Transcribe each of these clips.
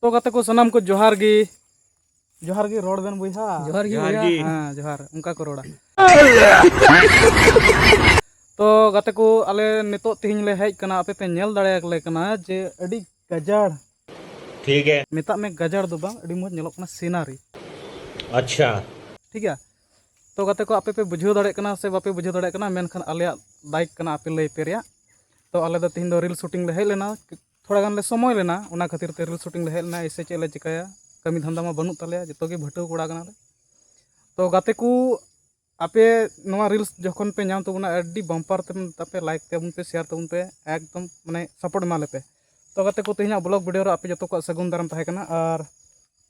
ᱛᱚ ᱜᱟᱛᱮ ᱠᱚ ᱥᱟᱱᱟᱢ ᱠᱚ ᱡᱚᱦᱟᱨ ᱜᱮ ᱡᱚᱦᱟᱨ ᱜᱮ ᱨᱚᱲ ᱵᱮᱱ ᱵᱚᱭᱦᱟ ᱡᱚᱦᱟᱨ ᱜᱮ ᱵᱚᱭᱦᱟ ᱦᱮᱸ ᱡᱚᱦᱟᱨ ᱚᱱᱠᱟ ᱠᱚ ᱨᱚᱲᱟ ᱛᱚ ᱜᱟᱛᱮ ᱠᱚ ᱟᱞᱮ ᱱᱤᱛᱚᱜ ᱛᱮᱦᱮᱧ ᱞᱮ ᱦᱮᱡ ᱠᱟᱱᱟ ᱟᱯᱮ ᱯᱮ ᱧᱮᱞ ᱫᱟᱲᱮᱭᱟᱞᱮ ᱠᱟᱱᱟ ᱡᱮ ᱟᱹᱰᱤ ᱜᱟᱡᱟᱲ ᱴᱷᱤᱠ ᱜᱮ ᱢᱮᱛᱟᱜ ᱢᱮ ᱜᱟᱡᱟᱲ ᱫᱚ ᱵᱟᱝ ᱟᱹᱰᱤ ᱢᱚᱡᱽ ᱧᱮᱞᱚᱜ ᱠᱟᱱᱟ ᱥᱤᱱᱟᱨᱤ ᱟᱪᱪᱷᱟ ᱴᱷᱤᱠ ᱜᱮᱭᱟ ᱛᱚ ᱜᱟᱛᱮ ᱠᱚ ᱟᱯᱮ ᱯᱮ ᱵᱩᱡᱷᱟᱹᱣ ᱫᱟᱲᱮᱭᱟᱜ ᱠᱟᱱᱟ ᱥᱮ ᱵᱟᱯᱮ ᱵᱩᱡᱷᱟᱹᱣ ᱫᱟᱲᱮᱭᱟᱜ ᱠᱟᱱᱟ ᱢᱮᱱᱠᱷᱟᱱ ᱟᱞᱮᱭᱟᱜ ᱫᱟᱭᱤᱛ ᱠᱟᱱᱟ ᱟᱯᱮ ᱞᱟᱹᱭ ᱯᱮ ᱨᱮᱭᱟᱜ ᱛᱚ ᱟᱞᱮ ᱫᱚ ᱛᱮᱦᱮᱧ ᱫᱚ ᱨᱤᱞ ᱥᱩᱴᱤᱝ ᱞᱮ ᱦᱮᱡ ᱞᱮᱱᱟ ᱛᱷᱚᱲᱟ ᱜᱟᱱ ᱞᱮ ᱥᱚᱢᱚᱭ ᱞᱮᱱᱟ ᱚᱱᱟ ᱠᱷᱟᱹᱛᱤᱨ ᱛᱮ ᱨᱤᱞ ᱥᱩᱴᱤᱝ ᱞᱮ ᱦᱮᱡ ᱞᱮᱱᱟ ᱮᱭᱥᱮ ᱪᱮᱫ ᱞᱮ ᱪᱤᱠᱟᱹᱭᱟ ᱠᱟᱹᱢᱤ ᱫᱷᱟᱱᱫᱟ ᱢᱟ ᱵᱟᱹᱱᱩᱜ ᱛᱟᱞᱮᱭᱟ ᱡᱚᱛᱚ ᱜᱮ ᱵᱷᱟᱹᱴᱟᱹᱣ ᱠᱚᱲᱟ ᱠᱟᱱᱟᱞᱮ ᱛᱚ ᱜᱟᱛᱮ ᱠᱚ ᱟᱯᱮ ᱱᱚᱣᱟ ᱨᱤᱞᱥ ᱡᱚᱠᱷᱚᱱ ᱯᱮ ᱧᱟᱢ ᱛᱟᱵᱚᱱᱟ ᱟᱹᱰᱤ ᱵᱟᱢᱯᱟᱨ ᱛᱟᱯᱮ ᱞᱟᱭᱤᱠ ᱛᱟᱵᱚᱱ ᱯᱮ ᱥᱮᱭᱟᱨ ᱛᱟᱵᱚᱱ ᱯᱮ ᱮᱠᱫᱚᱢ ᱢᱟᱱᱮ ᱥᱟᱯᱳᱨᱴ ᱮᱢᱟᱞᱮᱯᱮ ᱛᱚ ᱜᱟᱛᱮ ᱠᱚ ᱛᱮᱦᱮᱧᱟᱜ ᱵᱞᱚᱜᱽ ᱵᱷᱤᱰᱤᱭᱳ ᱨᱮ ᱟᱯᱮ ᱡᱚᱛᱚ ᱠᱚᱣᱟᱜ ᱥᱟᱹᱜᱩᱱ ᱫᱟᱨᱟᱢ ᱛᱟᱦᱮᱸ ᱠᱟᱱᱟ ᱟᱨ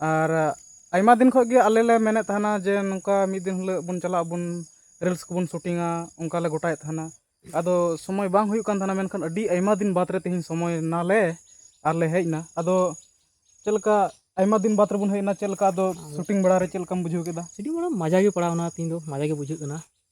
ᱟᱨ ᱟᱭᱢᱟ ᱫᱤᱱ ᱠᱷᱚᱱ ᱜᱮ ᱟᱞᱮ ᱞᱮ ᱢᱮᱱᱮᱫ ᱛᱟᱦᱮᱱᱟ ᱡᱮ ᱱᱚᱝᱠᱟ ᱢᱤᱫ ᱫᱤᱱ ᱦᱤᱞᱳᱜ ᱵᱚᱱ ᱪᱟᱞᱟᱜ ᱟᱵᱚᱱ ᱨᱤᱞᱥ ᱠᱚᱵᱚᱱ ᱥᱩᱴᱤᱝᱟ ᱚᱱᱠᱟ ᱞᱮ ᱜᱚᱴᱟᱭᱮᱫ ᱛᱟᱦᱮᱱᱟ ᱟᱫᱚ ᱥᱚᱢᱚᱭ ᱵᱟᱝ ᱦᱩᱭᱩᱜ ᱠᱟᱱ ᱛᱟᱦᱮᱱᱟ ᱢᱮᱱᱠᱷᱟᱱ ᱟᱹᱰᱤ ᱟᱭᱢᱟ ᱫᱤᱱ ᱵᱟᱫᱽ ᱨᱮ ᱛᱮᱦᱮᱧ ᱥᱚᱢᱚᱭ ᱱᱟᱞᱮ ᱟᱨ ᱞᱮ ᱦᱮᱡ ᱮᱱᱟ ᱟᱫᱚ ᱪᱮᱫ ᱞᱮᱠᱟ ᱟᱭᱢᱟ ᱫᱤᱱ ᱵᱟᱫᱽ ᱨᱮᱵᱚᱱ ᱦᱮᱡ ᱮᱱᱟ ᱪᱮᱫ ᱞᱮᱠᱟ ᱟᱫᱚ ᱥᱩᱴᱤᱝ ᱵᱟᱲᱟ ᱨᱮ ᱪᱮᱫ ᱞᱮᱠᱟᱢ ᱵᱩᱡᱷᱟᱹᱣ ᱠᱮᱫᱟ ᱥᱩᱴᱤᱝ ᱵᱟᱲᱟ ᱢᱟᱡᱟ ᱜᱮ ᱯᱟᱲᱟᱣ ᱮᱱᱟ ᱛᱮᱦᱮᱧ ᱫᱚ ᱢᱟᱡᱟ ᱜᱮ ᱵᱩᱡᱷᱟᱹᱜ ᱠᱟᱱᱟ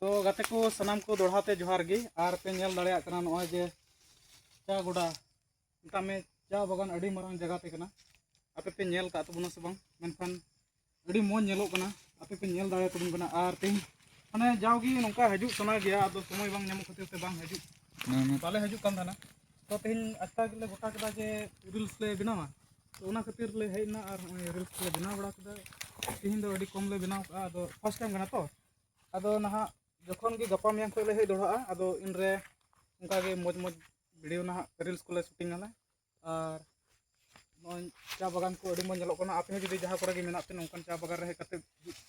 ᱛᱚ ᱜᱟᱛᱮ ᱠᱚ ᱥᱟᱱᱟᱢ ᱠᱚ ᱫᱚᱲᱦᱟ ᱛᱮ ᱡᱚᱦᱟᱨ ᱜᱮ ᱟᱨ ᱯᱮ ᱧᱮᱞ ᱫᱟᱲᱮᱭᱟᱜ ᱠᱟᱱᱟ ᱱᱚᱜᱼᱚᱭ ᱡᱮ ᱪᱟ ᱜᱚᱰᱟ ᱢᱮᱛᱟᱜ ᱢᱮ ᱪᱟ ᱵᱟᱜᱟᱱ ᱟᱹᱰᱤ ᱢᱟᱨᱟᱝ ᱡᱟᱭᱜᱟ ᱛᱮ ᱠᱟᱱᱟ ᱟᱯᱮ ᱯᱮ ᱧᱮᱞ ᱠᱟᱜ ᱛᱟᱵᱚᱱᱟ ᱥᱮ ᱵᱟᱝ ᱢᱮᱱᱠᱷᱟᱱ ᱟᱹᱰᱤ ᱢᱚᱡᱽ ᱧᱮᱞᱚᱜ ᱠᱟᱱᱟ ᱟᱯᱮ ᱯᱮ ᱧᱮᱞ ᱫᱟᱲᱮ ᱛᱟᱵᱚᱱ ᱠᱟᱱᱟ ᱟᱨ ᱛᱮᱦᱮᱧ ᱢᱟᱱᱮ ᱡᱟᱣᱜᱮ ᱱᱚᱝᱠᱟ ᱦᱤᱡᱩᱜ ᱥᱟᱱᱟ ᱜᱮᱭᱟ ᱟᱫᱚ ᱥᱚᱢᱚᱭ ᱵᱟᱝ ᱧᱟᱢᱚᱜ ᱠᱷᱟᱹᱛᱤᱨ ᱛᱮ ᱵᱟᱝ ᱦᱤᱡᱩᱜ ᱵᱟᱞᱮ ᱦᱤᱡᱩᱜ ᱠᱟᱱ ᱛᱟᱦᱮᱱᱟ ᱛᱚ ᱛᱮᱦᱮᱧ ᱟᱪᱠᱟ ᱜᱮᱞᱮ ᱜᱚᱴᱟ ᱠᱮᱫᱟ ᱡᱮ ᱨᱤᱞᱥ ᱞᱮ ᱵᱮᱱᱟᱣᱟ ᱚᱱᱟ ᱠᱷᱟᱹᱛᱤᱨ ᱞᱮ ᱦᱮᱡ ᱮᱱᱟ ᱟᱨ ᱱᱚᱜᱼᱚᱭ ᱨᱤᱞᱥ ᱞᱮ ᱵᱮᱱᱟᱣ ᱵᱟᱲᱟ ᱠᱮᱫᱟ ᱛᱤᱦᱤᱧ ᱫᱚ ᱟᱹᱰᱤ ᱠᱚᱢ ᱞᱮ ᱵᱮᱱᱟᱣ ᱠᱟᱜᱼᱟ ᱟᱫᱚ ᱯᱷᱟᱥᱴ ᱴᱟᱭᱤᱢ ᱠᱟᱱᱟ ᱛᱚ ᱟᱫᱚ ᱱᱟᱦᱟᱜ ᱡᱚᱠᱷᱚᱱ ᱜᱮ ᱜᱟᱯᱟ ᱢᱮᱭᱟᱝ ᱠᱷᱚᱱ ᱞᱮ ᱦᱮᱡ ᱫᱚᱲᱦᱟᱜᱼᱟ ᱟᱫᱚ ᱤᱱᱨᱮ ᱚᱱᱠᱟ ᱜᱮ ᱢᱚᱡᱽ ᱢᱚᱡᱽ ᱵᱷᱤᱰᱤᱭᱳ ᱱᱟᱦᱟᱜ ᱨᱤᱞᱥ ᱠᱚᱞᱮ ᱥᱩᱴᱤᱝ ᱟᱞᱮ ᱟᱨ ᱱᱚᱜᱼᱚᱭ ᱪᱟ ᱵᱟᱜᱟᱱ ᱠᱚ ᱟᱹᱰᱤ ᱢᱚᱡᱽ ᱧᱮᱞᱚᱜ ᱠᱟᱱᱟ ᱟᱯᱮ ᱦᱚᱸ ᱡᱩᱫᱤ ᱡᱟᱦᱟᱸ ᱠᱚᱨᱮ ᱜᱮ ᱢᱮᱱᱟᱜ ᱯᱮ ᱱᱚᱝᱠᱟᱱ ᱪᱟ ᱵᱟᱜᱟᱱ ᱨᱮ ᱦᱮᱡ ᱠᱟᱛᱮ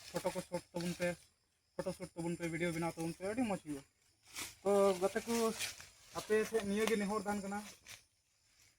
ᱯᱷᱳᱴᱳ ᱠᱚ ᱥᱩᱴ ᱛᱟᱵᱚᱱ ᱯᱮ ᱯᱷᱳᱴᱳ ᱥᱩᱴ ᱛᱟᱵᱚᱱ ᱯᱮ ᱵᱷᱤᱰᱤᱭᱳ ᱵᱮᱱᱟᱣ ᱛᱟᱵᱚᱱ ᱯᱮ ᱟᱹᱰᱤ ᱢᱚᱡᱽ ᱦᱩᱭᱩᱜᱼᱟ ᱛᱚ ᱜᱟᱛᱮ ᱠᱚ ᱟᱯᱮ ᱥᱮᱫ ᱱᱤᱭᱟᱹ ᱜᱮ ᱱᱮᱦᱚᱨ ᱛᱟᱦᱮᱱ ᱠᱟᱱᱟ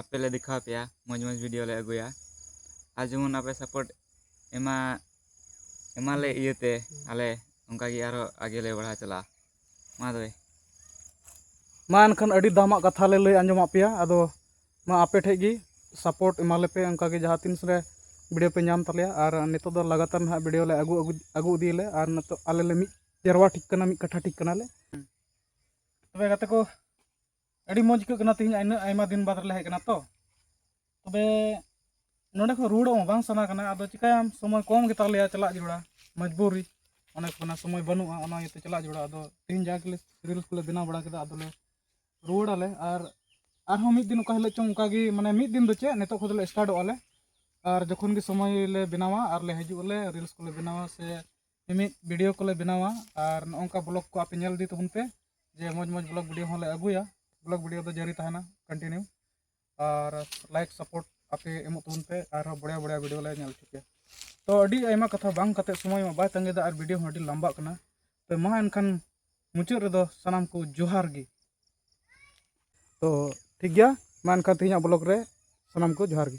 ᱟᱯᱮ ᱞᱮ ᱫᱮᱠᱷᱟᱣ ᱯᱮᱭᱟ ᱢᱚᱡᱽ ᱢᱚᱡᱽ ᱵᱷᱤᱰᱤᱭᱳ ᱞᱮ ᱟᱹᱜᱩᱭᱟ ᱟᱨ ᱡᱮᱢᱚᱱ ᱟᱯᱮ ᱥᱟᱯᱳᱨᱴ ᱮᱢᱟ ᱮᱢᱟ ᱞᱮ ᱤᱭᱟᱹᱛᱮ ᱟᱞᱮ ᱚᱱᱠᱟ ᱜᱮ ᱟᱨᱦᱚᱸ ᱟᱜᱮ ᱞᱮ ᱵᱟᱲᱦᱟᱣ ᱪᱟᱞᱟᱜᱼᱟ ᱢᱟ ᱛᱚᱵᱮ ᱢᱟ ᱮᱱᱠᱷᱟᱱ ᱟᱹᱰᱤ ᱫᱟᱢᱟᱜ ᱠᱟᱛᱷᱟ ᱞᱮ ᱞᱟᱹᱭ ᱟᱸᱡᱚᱢᱟᱫ ᱯᱮᱭᱟ ᱟᱫᱚ ᱢᱟ ᱟᱯᱮ ᱴᱷᱮᱡ ᱜᱮ ᱥᱟᱯᱳᱨᱴ ᱮᱢᱟ ᱞᱮᱯᱮ ᱚᱱᱠᱟ ᱜᱮ ᱡᱟᱦᱟᱸ ᱛᱤᱱ ᱨᱮ ᱵᱷᱤᱰᱤᱭᱳ ᱯᱮ ᱧᱟᱢ ᱛᱟᱞᱮᱭᱟ ᱟᱨ ᱱᱤᱛᱚᱜ ᱫᱚ ᱞᱟᱜᱟᱛᱟᱨ ᱱᱟᱦᱟᱜ ᱵᱷᱤᱰᱤᱭᱳ ᱞᱮ ᱟᱹᱜᱩ ᱟᱹᱜᱩ ᱤᱫᱤᱭᱟᱞᱮ ᱟᱨ ᱱᱤᱛᱚᱜ ᱟᱞᱮ ᱞᱮ ᱢᱤᱫ ᱡᱟᱨᱣᱟ ᱴᱷᱤᱠ ᱠᱟᱱᱟ ᱢᱤᱫ ᱠᱟᱴᱷᱟ ᱴᱷᱤᱠ ᱠᱟᱱᱟᱞᱮ ᱛᱚᱵᱮ ᱜᱟᱛᱮ ᱠᱚ ᱟᱹᱰᱤ ᱢᱚᱡᱽ ᱟᱹᱭᱠᱟᱹᱜ ᱠᱟᱱᱟ ᱛᱮᱦᱮᱧ ᱤᱱᱟᱹᱜ ᱟᱭᱢᱟ ᱫᱤᱱ ᱵᱟᱫᱽ ᱨᱮᱞᱮ ᱦᱮᱡ ᱠᱟᱱᱟ ᱛᱚ ᱛᱚᱵᱮ ᱱᱚᱰᱮ ᱠᱷᱚᱱ ᱨᱩᱣᱟᱹᱲᱚᱜ ᱢᱟ ᱵᱟᱝ ᱥᱟᱱᱟ ᱠᱟᱱᱟ ᱟᱫᱚ ᱪᱤᱠᱟᱹᱭᱟᱢ ᱥᱚᱢᱚᱭ ᱠᱚᱢ ᱜᱮᱛᱟᱞᱮᱭᱟ ᱪᱟᱞᱟᱜ ᱡᱟᱹᱨᱩᱲᱟ ᱢᱚᱡᱽᱵᱩᱨᱤ ᱚᱱᱮ ᱠᱟᱱᱟ ᱥᱚᱢᱚᱭ ᱵᱟᱹᱱᱩᱜᱼᱟ ᱚᱱᱟ ᱤᱭᱟᱹᱛᱮ ᱪᱟᱞᱟᱜ ᱡᱟᱹᱨᱩᱲᱟ ᱟᱫᱚ ᱛᱮᱦᱮᱧ ᱡᱟ ᱜᱮᱞᱮ ᱨᱤᱞᱥ ᱠᱚᱞᱮ ᱵᱮᱱᱟᱣ ᱵᱟᱲᱟ ᱠᱮᱫᱟ ᱟᱫᱚᱞᱮ ᱨᱩᱣᱟᱹᱲᱟᱞᱮ ᱟᱨ ᱟᱨᱦᱚᱸ ᱢᱤᱫ ᱫᱤᱱ ᱚᱠᱟ ᱦᱤᱞᱳᱜ ᱪᱚᱝ ᱚᱱᱠᱟ ᱜᱮ ᱢᱟᱱᱮ ᱢᱤᱫ ᱫᱤᱱ ᱫᱚ ᱪᱮᱫ ᱱᱤᱛᱚᱜ ᱠᱷᱚᱱ ᱫᱚᱞᱮ ᱥᱴᱟᱨᱴᱚᱜᱼᱟ ᱞᱮ ᱟᱨ ᱡᱚᱠᱷᱚᱱ ᱜᱮ ᱥᱚᱢᱚᱭ ᱞᱮ ᱵᱮᱱᱟᱣᱟ ᱟᱨ ᱞᱮ ᱦᱤᱡᱩᱜ ᱟᱞᱮ ᱨᱤᱞᱥ ᱠᱚᱞᱮ ᱵᱮᱱᱟᱣᱟ ᱥᱮ ᱢᱤᱢᱤᱫ ᱵᱷᱤᱰᱤᱭᱳ ᱠᱚᱞᱮ ᱵᱮᱱᱟᱣᱟ ᱟᱨ ᱱᱚᱝᱠᱟ ᱵᱞᱚᱜ ᱠᱚ ᱟᱯᱮ ᱧᱮᱞ ᱤᱫᱤ ᱛᱟᱵᱚᱱ ᱯᱮ ᱡᱮ ᱢᱚᱡᱽ ᱢᱚᱡᱽ ᱵᱞᱚᱜ ᱵᱷᱤᱰᱤᱭᱳ ᱦᱚᱸᱞᱮ ᱟᱹᱜᱩᱭᱟ ᱵᱞᱚᱜ ᱵᱷᱤᱰᱤᱭᱳ ᱫᱚ ᱡᱟᱹᱨᱤ ᱛᱟᱦᱮᱱᱟ ᱠᱚᱱᱴᱤᱱᱤᱭᱩ ᱟᱨ ᱞᱟᱭᱤᱠ ᱥᱟᱯᱳᱨᱴ ᱟᱯᱮ ᱮᱢᱚᱜ ᱛᱟᱵᱚᱱ ᱯᱮ ᱟᱨᱦᱚᱸ ᱵᱟᱲᱟᱭᱟ ᱵᱟᱲᱟᱭᱟ ᱵᱷᱤᱰᱤᱭᱳ ᱞᱮ ᱧᱮᱞ ᱦᱚᱪᱚ ᱯᱮᱭᱟ ᱛᱚ ᱟᱹᱰᱤ ᱟᱭᱢᱟ ᱠᱟᱛᱷᱟ ᱵᱟᱝ ᱠᱟᱛᱮ ᱥᱚᱢᱚᱭ ᱢᱟ ᱵᱟᱭ ᱛᱟᱸᱜᱤᱫᱟ ᱟᱨ ᱵᱷᱤᱰᱤᱭᱳ ᱦᱚᱸ ᱟᱹᱰᱤ ᱞᱟᱢᱵᱟᱜ ᱠᱟᱱᱟ ᱛᱚ ᱢᱟ ᱮᱱᱠᱷᱟᱱ ᱢᱩᱪᱟᱹᱫ ᱨᱮᱫᱚ ᱥᱟᱱᱟᱢ ᱠᱚ ᱡᱚᱦᱟᱨ ᱜᱮ ᱛᱚ ᱴᱷᱤᱠ ᱜᱮᱭᱟ ᱢᱟ ᱮᱱᱠᱷᱟᱱ ᱛᱮᱦᱮᱧᱟᱜ ᱵᱞᱚᱜ ᱨᱮ ᱥᱟᱱᱟᱢ ᱠᱚ ᱡᱚᱦᱟᱨ ᱜᱮ